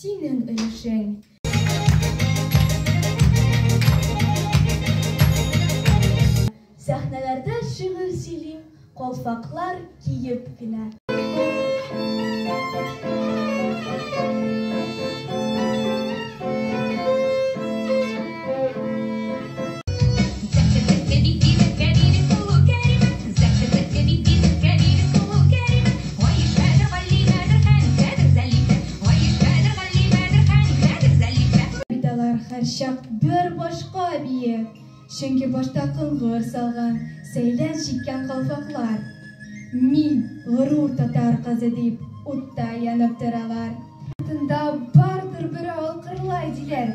Синең өлешең. Сәхнәләрдә шигырь сөйлим, калфаклар киеп кенә. һәрчак бер башка бие, чөнки башта коңгыр салган, сәйлән чиккән калфаклар. Мин горур татар кызы дип утта янып торалар. Тында бардыр бер алкырлай диләр.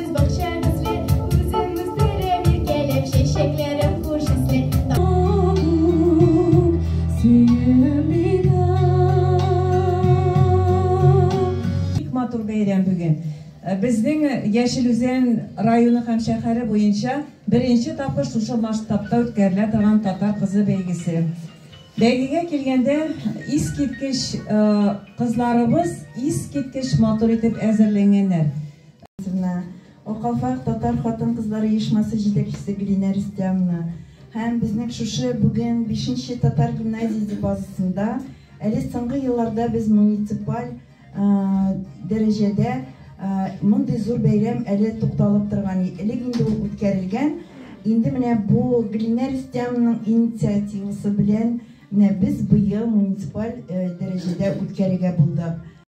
матур бәйрәм бүген. Э, безнең э, Яшел Үзән районы һәм шәһәре буенча беренче тапкыр шушы масштабта үткәрелә торган татар кызы бәйгесе. Бәйгегә килгәндә искиткеч э, кызларыбыз искиткеч матур итеп әзерләнгәннәр. Ивановна, Окафак татар хатын-кызлар оешмасы җитәкчесе Гөлинә Рөстәмовна һәм безнең шушы бүген бишенче татар гимназиясе базасында әле соңгы елларда без муниципаль дәрәҗәдә мондый зур бәйрәм әле тукталып торган, элек инде ул үткәрелгән, инде менә бу Гөлинә Рөстәмовнаның инициативасы белән менә без быел муниципаль дәрәҗәдә үткәрергә булдык.